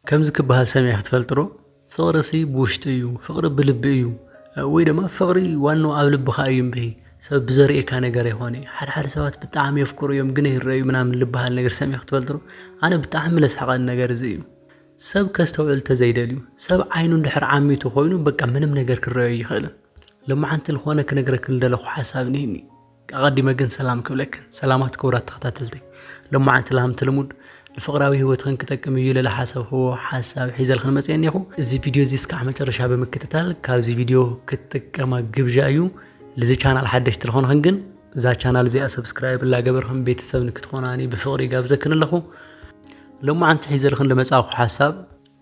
ከምዚ ክበሃል ሰሚዕኪ ትፈልጢ ዶ? ፍቕሪሲ ብውሽጢ እዩ፣ ፍቕሪ ብልቢ እዩ፣ ወይ ድማ ፍቕሪ ዋንኡ ኣብ ልብኻ እዩ እምበይ ሰብ ብዘርእየካ ነገር ኣይኮነይ። ሓደ ሓደ ሰባት ብጣዕሚ የፍቅሩ እዮም ግን ኣይረኣዩ ምናምን ልበሃል ነገር ሰሚዕኪ ትፈልጢ ዶ? ኣነ ብጣዕሚ ለስሕቐኒ ነገር እዚ እዩ። ሰብ ከስተውዕል ተዘይደልዩ፣ ሰብ ዓይኑ እንድሕር ዓሚቱ ኮይኑ በቃ ምንም ነገር ክረኣዮ ኣይኽእልን። ሎማዓንቲ ልኾነ ክነግረኪ ልደለኹ ሓሳብ እኒሀኒ። ኣቐዲመ ግን ሰላም ክብለክን ሰላማት ክቡራት ተኸታተልተይ ሎማዓንቲ ላምቲ ልሙድ ንፍቕራዊ ህይወትኽን ክጠቅም እዩ ኢለ ዝሓሰብክዎ ሓሳብ ሒዘልኽን መፅአ እኒኹ እዚ ቪድዮ እዚ እስካዕ መጨረሻ ብምክትታል ካብዚ ቪድዮ ክትጥቀማ ግብዣ እዩ ልዚ ቻናል ሓደሽቲ ልኾንኽን ግን እዛ ቻናል እዚኣ ሰብስክራይብ እላገበርኽን ቤተሰብ ንክትኾናኒ ብፍቕሪ ይጋብዘክን ኣለኹ ሎማዓንቲ ሒዘልኽን ልመፃእኹ ሓሳብ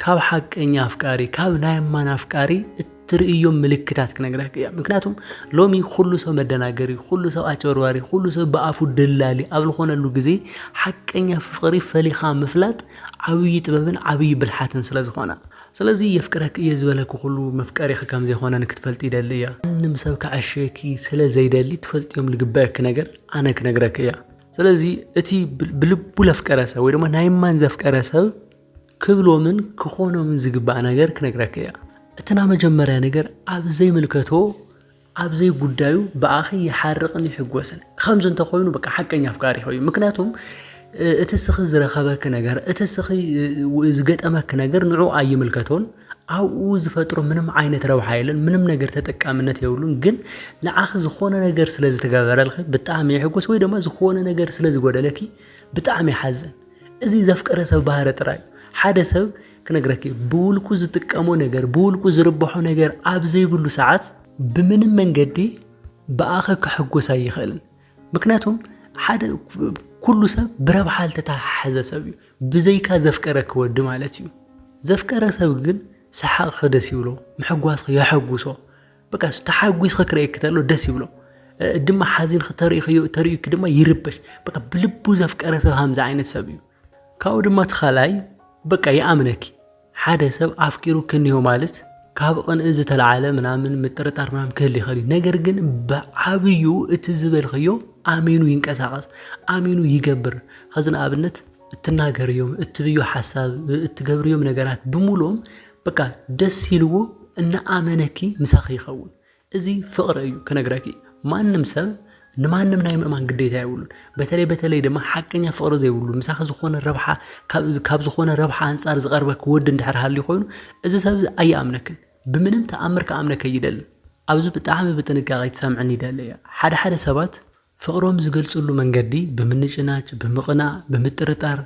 ካብ ሓቀኛ ኣፍቃሪ ካብ ናይ እማን ኣፍቃሪ እትርእዮም ምልክታት ክነግረክ እያ ምክንያቱም ሎሚ ኩሉ ሰብ መደናገሪ ኩሉ ሰብ ኣጭበርባሪ ኩሉ ሰብ ብኣፉ ደላሊ ኣብ ዝኾነሉ ግዜ ሓቀኛ ፍቅሪ ፈሊኻ ምፍላጥ ዓብዪ ጥበብን ዓብዪ ብልሓትን ስለ ዝኾነ ስለዚ የፍቅረክ እየ ዝበለኪ ኩሉ መፍቀሪኺ ከም ዘይኮነ ንክትፈልጢ ይደሊ እያ ማንም ሰብ ከዐሽየኪ ስለ ዘይደሊ ትፈልጥዮም ልግበአኪ ነገር ኣነ ክነግረኪ እያ ስለዚ እቲ ብልቡ ለፍቀረ ሰብ ወይ ድማ ናይ እማን ዘፍቀረ ሰብ ክብሎምን ክኾኖምን ዝግባእ ነገር ክነግረኪ እያ። እቲ ናይ መጀመርያ ነገር ኣብ ዘይምልከቶ ኣብ ዘይጉዳዩ ብኣኺ ይሓርቕን ይሕጎስን። ከምዚ እንተኾይኑ በቃ ሓቀኛ ኣፍቃሪኺ እዩ። ምክንያቱም እቲ ስኺ ዝረኸበኪ ነገር እቲ ስኺ ዝገጠመኪ ነገር ንዑ ኣይምልከቶን ኣብኡ ዝፈጥሮ ምንም ዓይነት ረብሓ የለን፣ ምንም ነገር ተጠቃምነት የብሉን። ግን ንዓኺ ዝኾነ ነገር ስለ ዝተገበረልኺ ብጣዕሚ ይሕጎስ ወይ ድማ ዝኾነ ነገር ስለ ዝጎደለኪ ብጣዕሚ ይሓዝን። እዚ ዘፍቀረ ሰብ ባህሪ ጥራይ እዩ። ሓደ ሰብ ክነግረኪ እዩ ብውልቁ ዝጥቀሞ ነገር ብውልቁ ዝርብሖ ነገር ኣብ ዘይብሉ ሰዓት ብምንም መንገዲ ብኣኸ ክሕጎስ ኣይኽእልን። ምክንያቱም ሓደ ኩሉ ሰብ ብረብሓ ዝተተሓሓዘ ሰብ እዩ ብዘይካ ዘፍቀረ ክወዲ ማለት እዩ ዘፍቀረ ሰብ ግን ሰሓቕኺ ደስ ይብሎ ምሕጓስኺ የሐጉሶ በቃ ተሓጒስኺ ክርእየኪ ተሎ ደስ ይብሎ ድማ ሓዚንኺ ተርእዩ ተርእዩኪ ድማ ይርበሽ በቃ ብልቡ ዘፍቀረ ሰብ ሃምዚ ዓይነት ሰብ እዩ ካብኡ ድማ እቲ ካልኣይ በቃ ይኣምነኪ ሓደ ሰብ ኣፍቂሩ ክንዮ ማለት ካብ ቕንኢ ዝተለዓለ ምናምን ምጥርጣር ምናምን ክህል ይኽእል እዩ ነገር ግን ብዓብዩ እቲ ዝበልኽዮ ኣሚኑ ይንቀሳቐስ ኣሚኑ ይገብር ኸዚ ንኣብነት እትናገርዮም እትብዮ ሓሳብ እትገብርዮም ነገራት ብምሉኦም በቃ ደስ ኢልዎ እናኣመነኪ ምሳኺ ይኸውን። እዚ ፍቕሪ እዩ ክነግረኪ ማንም ሰብ ንማንም ናይ ምእማን ግዴታ የብሉን። በተለይ በተለይ ድማ ሓቀኛ ፍቕሪ ዘይብሉ ምሳኺ ዝኾነ ረብሓ ካብ ዝኾነ ረብሓ ኣንጻር ዝቐርበኪ ወዲ እንድሕር ሃልዩ ኮይኑ እዚ ሰብ እዚ ኣይኣምነክን ብምንም ተኣምር ክኣምነከ ይደልን። ኣብዚ ብጣዕሚ ብጥንቃቄ ትሰምዕን ይደለ እያ ሓደ ሓደ ሰባት ፍቕሮም ዝገልጽሉ መንገዲ ብምንጭናጭ፣ ብምቕናእ፣ ብምጥርጣር፣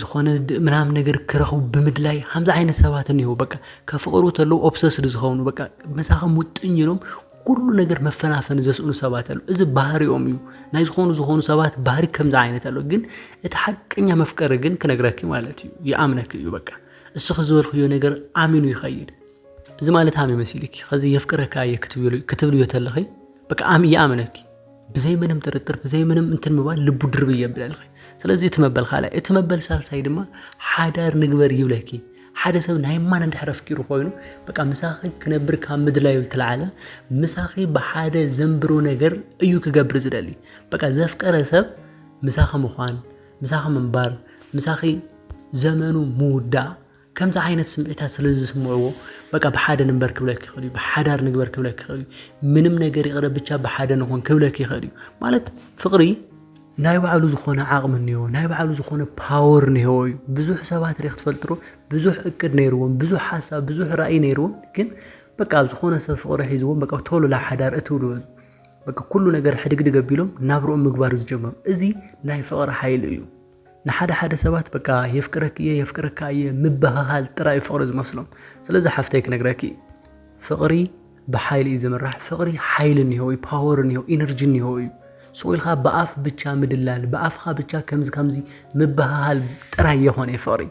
ዝኾነ ምናምን ነገር ክረኽቡ ብምድላይ ከምዚ ዓይነት ሰባት እኒሀው በቃ ከፍቕሩ ተለው ኦብሰስድ ዝኸውን በቃ መሳኸም ውጥኝ ኢሎም ኩሉ ነገር መፈናፈኒ ዘስእኑ ሰባት ኣሉ እዚ ባህሪኦም እዩ ናይ ዝኾኑ ዝኾኑ ሰባት ባህሪ ከምዚ ዓይነት ኣሎ ግን እቲ ሓቀኛ መፍቀሪ ግን ክነግረኪ ማለት እዩ ይኣምነኪ እዩ በቃ እስኺ ዝበልክዮ ነገር ኣሚኑ ይኸይድ እዚ ማለት ሃመ መሲልኪ ከዚ የፍቅረካ እየ ክትብልዮ ተለኺ በቃ ይኣምነኪ ብዘይ ምንም ጥርጥር ብዘይ ምንም እንትን ምባል ልቡ ድርብ እየብለልኺ ስለዚ እቲ መበል ካልኣይ እቲ መበል ሳልሳይ ድማ ሓዳር ንግበር ይብለኪ ሓደ ሰብ ናይ ማን እንድሕር ኣፍቂሩ ኮይኑ በቃ ምሳኺ ክነብር ካብ ምድላዩ ዝተለዓለ ምሳኺ ብሓደ ዘንብሮ ነገር እዩ ክገብር ዝደሊ በቃ ዘፍቀረ ሰብ ምሳኺ ምዃን ምሳኺ ምንባር ምሳኺ ዘመኑ ምውዳእ ከምዚ ዓይነት ስምዒታት ስለዝስምዕዎ በቃ ብሓደ ንንበር ክብለኪ ይኽእል እዩ፣ ብሓዳር ንግበር ክብለኪ ይኽእል እዩ፣ ምንም ነገር ይቕረ ብቻ ብሓደ ንኹን ክብለኪ ይኽእል እዩ። ማለት ፍቕሪ ናይ ባዕሉ ዝኾነ ዓቕሚ እኒኦ፣ ናይ ባዕሉ ዝኾነ ፓወር እኒሄዎ እዩ። ብዙሕ ሰባት ሪኽ ትፈልጥሩ ብዙሕ እቅድ ነይርዎም፣ ብዙሕ ሓሳብ፣ ብዙሕ ራእይ ነይርዎም ግን በቃ ኣብ ዝኾነ ሰብ ፍቕሪ ሒዝዎም በቃ ቶሎ ናብ ሓዳር እትው ዝበሉ በቃ ኩሉ ነገር ሕድግድግ ኣቢሎም ናብርኦም ምግባር ዝጀመሩ እዚ ናይ ፍቕሪ ሓይሊ እዩ። ንሓደ ሓደ ሰባት በቃ የፍቅረኪ እየ የፍቅረካ እየ ምብህሃል ጥራይ ፍቅሪ ዝመስሎም ስለዚ ሓፍተይ ክነግረኪ ፍቅሪ ብሓይሊ እዩ ዝምራሕ ፍቅሪ ሓይሊ እኒሆ እዩ ፓወር እኒሆ ኢነርጂ እኒሆ እዩ ስቁ ኢልካ ብኣፍ ብቻ ምድላል ብኣፍካ ብቻ ከምዚ ከምዚ ምብሃሃል ጥራይ የኾነ ፍቕሪ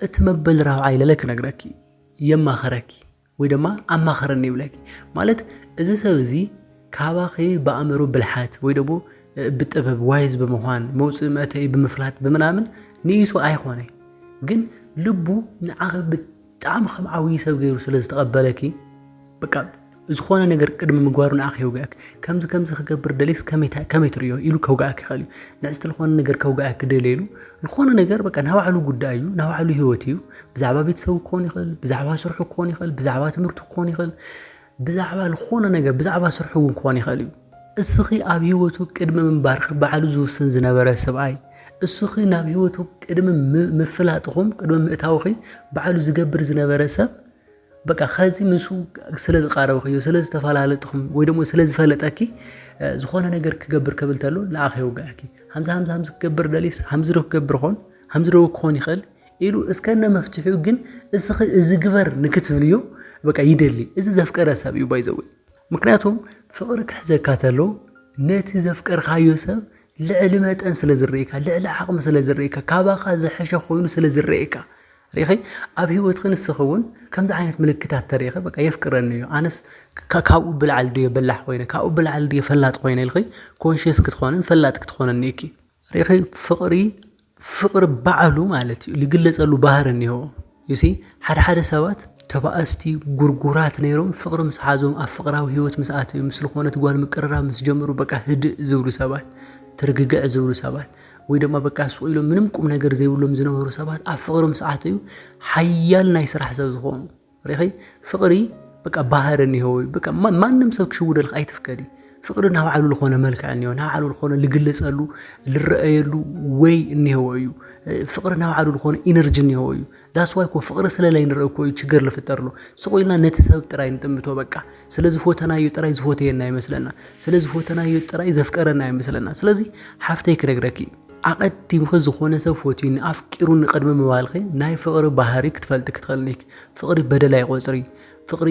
እቲ መበል ራብዓይ ለለ ክነግረኪ የማኸረኪ ወይ ድማ ኣማኸረኒ ይብለኪ ማለት እዚ ሰብ እዚ ካባኺ ብኣእምሮ ብልሓት ወይ ደግሞ ብጥበብ ዋይዝ ብምዃን መውፅእ መእተዩ ብምፍላት ብምናምን ንኢሱ ኣይኮነ ግን ልቡ ንዓኺ ብጣዕሚ ከም ዓብዪ ሰብ ገይሩ ስለ ዝተቐበለኪ በቃ ዝኾነ ነገር ቅድሚ ምግባሩ ንዓኺ የውግኣኪ ከምዚ ከምዚ ክገብር ደሊስ ከመይ ትርእዮ ኢሉ ከውግኣኪ ይኽእል እዩ ንዕስቲ ዝኾነ ነገር ከውግኣኪ ደልየሉ ዝኾነ ነገር በቃ ናባዕሉ ጉዳይ እዩ ናባዕሉ ህይወት እዩ ብዛዕባ ቤተሰቡ ክኾን ይኽእል፣ ብዛዕባ ስርሑ ክኾን ይኽእል፣ ብዛዕባ ትምህርቱ ክኾን ይኽእል፣ ብዛዕባ ዝኾነ ነገር ብዛዕባ ስርሑ እውን ክኾን ይኽእል እዩ። እስኺ ኣብ ህይወቱ ቅድሚ ምንባርኺ ባዕሉ ዝውስን ዝነበረ ሰብኣይ እስኺ ናብ ህይወቱ ቅድሚ ምፍላጥኹም ቅድሚ ምእታውኺ ባዕሉ ዝገብር ዝነበረ ሰብ በቃ ከዚ ምስ ስለ ዝቃረብክዮ ስለ ዝተፈላለጥኩም ወይ ደሞ ስለ ዝፈለጠኪ ዝኾነ ነገር ክገብር ክብል ተሎ ንኣኺ የውግዐኪ ሃምዚ ሃምዚ ሃምዚ ክገብር ደሊስ ሃምዚ ዶ ክገብር ኾን ሃምዚ ዶ ክኾን ይኽእል ኢሉ እስከነ መፍትሒኡ ግን እስኺ እዚ ግበር ንክትብልዮ በቃ ይደሊ እዚ ዘፍቀረ ሰብ እዩ ባይዘወይ ምክንያቱም ፍቅሪ ክሕዘካ ተሎ ነቲ ዘፍቀርካዮ ሰብ ልዕሊ መጠን ስለ ዝረእካ ልዕሊ ዓቕሚ ስለ ዝረእካ ካባኻ ዝሐሸ ኮይኑ ስለ ዝረእካ ሪኺ ኣብ ህይወትኺ ንስኺ እውን ከምዚ ዓይነት ምልክታት ተሪኺ በቃ የፍቅረኒ እዩ ኣነስ ካብኡ ብላዕሊ ድዮ በላሕ ኮይነ ካብኡ ብላዕሊ ድዮ ፈላጥ ኮይነ ኢልኺ ኮንሽስ ክትኾንን ፈላጥ ክትኾንን እኪ ሪኢኺ ፍቕሪ ፍቕሪ ባዕሉ ማለት እዩ ዝግለፀሉ ባህሪ እኒሀው ዩ ሲ ሓደ ሓደ ሰባት ተባእስቲ ጉርጉራት ነይሮም ፍቕሪ ምስ ሓዞም ኣብ ፍቕራዊ ሂወት ምስ ኣተው ምስ ዝኾነት ጓል ምቅርራብ ምስ ጀመሩ በቃ ህድእ ዝብሉ ሰባት ትርግግዕ ዝብሉ ሰባት ወይ ድማ በቃ ሱቕ ኢሎም ምንም ቁም ነገር ዘይብሎም ዝነበሩ ሰባት ኣብ ፍቕሪ ምስ ኣተው ሓያል ናይ ስራሕ ሰብ ዝኾኑ ሪኺ ፍቅሪ በቃ ባህር እኒሆ በቃ ማንም ሰብ ክሽውደልክ ኣይትፍቀዲ ፍቅሪ ናብ ዓሉ ዝኾነ መልክዕ እኒሆ ናብ ዓሉ ዝኾነ ልግለጸሉ ልረአየሉ ወይ እኒሆ እዩ ፍቅሪ ናብ ዓሉ ዝኾነ ኢነርጂ እኒሆ እዩ ዳስ ዋይ ኮ ፍቅሪ ስለላይ ንርኢ እኮ እዩ ችግር ልፍጠርሎ ስቆይልና ነቲ ሰብ ጥራይ ንጥምቶ በቃ ስለ ዝፎተናዮ ጥራይ ዝፎተየና ይመስለና ስለ ዝፎተናዮ ጥራይ ዘፍቀረና ይመስለና ስለዚ ሓፍተይ ክነግረኪ ኣቐዲምኺ ዝኾነ ሰብ ፈትዩኒ ኣፍቂሩኒ ቅድሚ ምባልኺ ናይ ፍቕሪ ባህሪ ክትፈልጢ ክትኽእልኒ ኢኺ። ፍቕሪ በደል ኣይቖጽሪ፣ ፍቕሪ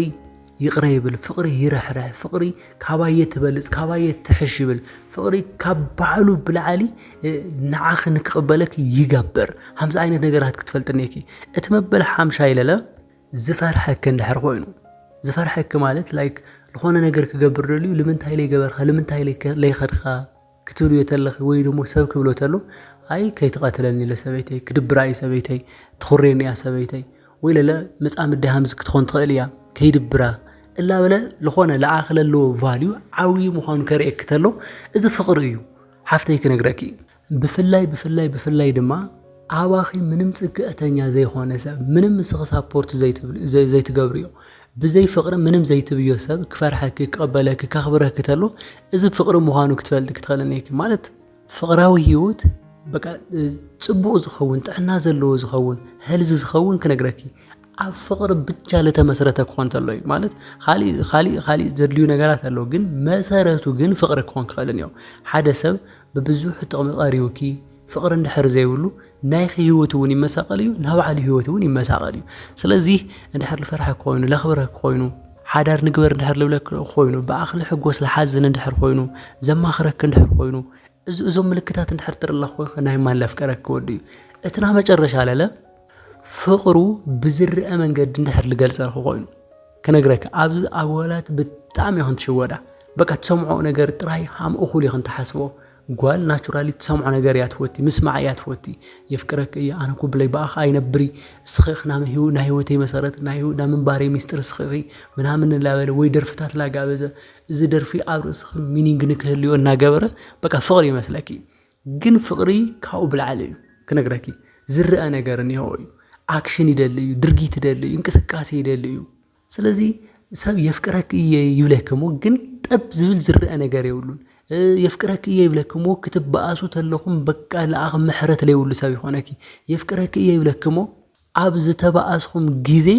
ይቕረ ይብል፣ ፍቕሪ ይርሕርሕ፣ ፍቕሪ ካባየ ትበልጽ ካባየ ትሕሽ ይብል፣ ፍቕሪ ካብ ባዕሉ ብላዕሊ ንዓኺ ንክቕበለኪ ይገብር። ሃምዚ ዓይነት ነገራት ክትፈልጥኒ ኢኪ። እቲ መበል ሓምሻይ ለለ ዝፈርሐኪ እንድሕር ኮይኑ ዝፈርሐኪ ማለት ላይክ ዝኾነ ነገር ክገብር ደልዩ ልምንታይ ለይገበርካ ልምንታይ ለይኸድካ ክትብልዮ ተለኺ ወይ ደሞ ሰብ ክብሎ ተሎ ኣይ ከይትቐትለኒ ለሰበይተይ ክድብራ እዩ ሰበይተይ ትኹሬኒ እያ ሰበይተይ ወይ ለለ መጻምዲ ሃምዝ ክትኾን ትኽእል እያ ከይድብራ እላ በለ ዝኾነ ለኣኺ ለለዎ ቫልዩ ዓብዪ ምዃኑ ከርእየኪ ተሎ እዚ ፍቕሪ እዩ ሓፍተይ ክነግረኪ እዩ ብፍላይ ብፍላይ ብፍላይ ድማ ኣባኺ ምንም ጽግዕተኛ ዘይኾነ ሰብ ምንም ንስኺ ሳፖርት ዘይትገብርዮ ብዘይ ፍቕሪ ምንም ዘይትብዮ ሰብ ክፈርሐኪ ክቕበለኪ ከኽብረኪ ተሎ እዚ ፍቕሪ ምዃኑ ክትፈልጢ ክትኸእልን እየኪ ማለት ፍቕራዊ ህይወት በቃ ጽቡቕ ዝኸውን ጥዕና ዘለዎ ዝኸውን ህልዚ ዝኸውን ክነግረኪ ኣብ ፍቕሪ ብቻ ለተመስረተ ክኾን ተሎ እዩ ማለት ካሊእ ካሊእ ካሊእ ዘድልዩ ነገራት ኣለዉ ግን መሰረቱ ግን ፍቕሪ ክኾን ክኽእልን እዮም ሓደ ሰብ ብብዙሕ ጥቕሚ ቐሪቡኪ ፍቕሪ እንድሕር ዘይብሉ ናይኺ ህይወት እውን ይመሳቐል እዩ፣ ናይ ባዕሉ ህይወት እውን ይመሳቐል እዩ። ስለዚ እንድሕር ልፈርሐ ኮይኑ ለኽብረክ ኮይኑ ሓዳር ንግበር እንድሕር ልብለክ ኮይኑ ብኣኽ ልሕጎስ ልሓዝን እንድሕር ኮይኑ ዘማኽረክ እንድሕር ኮይኑ እዚ እዞም ምልክታት እንድሕር ትርለ ኮይኸ ናይ ማን ለፍቀረክ ወዱ እዩ እቲ ናይ መጨረሻ ለለ ፍቕሩ ብዝርአ መንገዲ እንድሕር ልገልጸልክ ኮይኑ ክነግረክ ኣብዚ ኣጓላት ብጣዕሚ ኢኹም ትሽወዳ በቃ ትሰምዖ ነገር ጥራይ ሃም እኹል ኢኹም ትሓስቦ ጓል ናቹራሊ ትሰምዖ ነገር እያ ትፈቲ ምስማዕ እያ ትፈቲ የፍቅረክ እየ ኣነ እኮ ብለይ ብኣኻ ኣይነብሪ እስኺ ናይ ህይወተይ መሰረት ናይ ምንባረይ ሚስጥር እስኺ ምናምን እናበለ ወይ ደርፍታት ላጋበዘ እዚ ደርፊ ኣብ ርእስኺ ሚኒንግ ንክህልዮ እናገበረ በቃ ፍቕሪ ይመስለኪ ግን ፍቕሪ ካብኡ ብላዕሊ እዩ ክነግረኪ ዝረአ ነገር እኒሆ እዩ ኣክሽን ይደሊ እዩ ድርጊት ይደሊ እዩ እንቅስቃሴ ይደሊ እዩ ስለዚ ሰብ የፍቅረኪ እየ ይብለኪ እሞ ግን ጠብ ዝብል ዝረኣ ነገር የብሉን የፍቅረኪ እየ ይብለኪ እሞ ክትበኣሱ ተለኹም በቃ ለኣኽ ምሕረት ለይብሉ ሰብ ይኾነኪ የፍቅረኪ እየ ይብለኪ እሞ ኣብ ዝተበኣስኹም ግዜ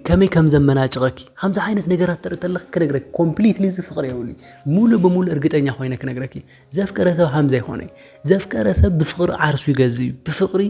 ከመይ ከም ዘመናጭቐኪ ከምዚ ዓይነት ነገራት ተርኢ ተለኺ ክነግረኪ ኮምፕሊትሊ እዚ ፍቕሪ የብሉይ ሙሉእ ብሙሉእ እርግጠኛ ኮይነ ክነግረኪ ዘፍቀረ ሰብ ሃምዛ ይኾነ ዘፍቀረ ሰብ ብፍቕሪ ዓርሱ ይገዝእ እዩ ብፍቕሪ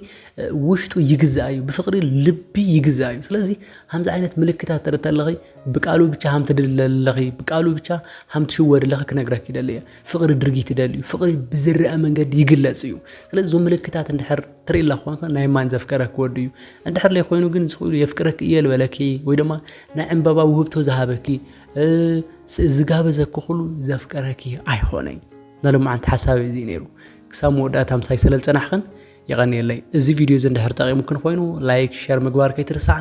ውሽጡ ይግዛእ እዩ ብፍቕሪ ልቢ ይግዛእ እዩ ስለዚ ሃምዚ ዓይነት ምልክታት ትርኢ ተለኺ ብቃሉ ብቻ ሃም ትድለለኺ ብቃሉ ብቻ ሃም ትሽወድለኺ ክነግረኪ ይደሊ እየ ፍቕሪ ድርጊት ይደሊ እዩ ፍቕሪ ብዝረአ መንገዲ ይግለፅ እዩ ስለዚ እዞም ምልክታት እንድሕር ትርኢ ኣለኹ ናይ ማን ዘፍቀረ ክወዱ እዩ እንድሕር ለይኮይኑ ግን ዝኽእሉ የፍቅረኪ እየ ዝበለኪ ወይ ድማ ናይ ዕምበባ ውህብቶ ዝሃበኪ ዝጋበዘክኹሉ ዘፍቀረኪ ኣይኾነይ ናሎማዓንቲ ሓሳብ እዚ ነይሩ ክሳብ መወዳእታ ምሳይ ስለ ዝፀናሕኽን የቐንየለይ እዚ ቪድዮ እዚ እንድሕር ጠቂሙክን ኮይኑ ላይክ ሸር ምግባር ከይትርስዓ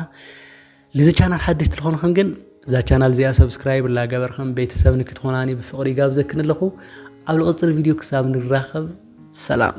ልዚ ቻናል ሓድሽ ትልኾንኽን ግን እዛ ቻናል እዚኣ ሰብስክራይብ ላገበርኽን ቤተሰብ ንክትኾናኒ ብፍቕሪ ይጋብዘክን ኣለኹ ኣብ ልቕፅል ቪድዮ ክሳብ ንራኸብ ሰላም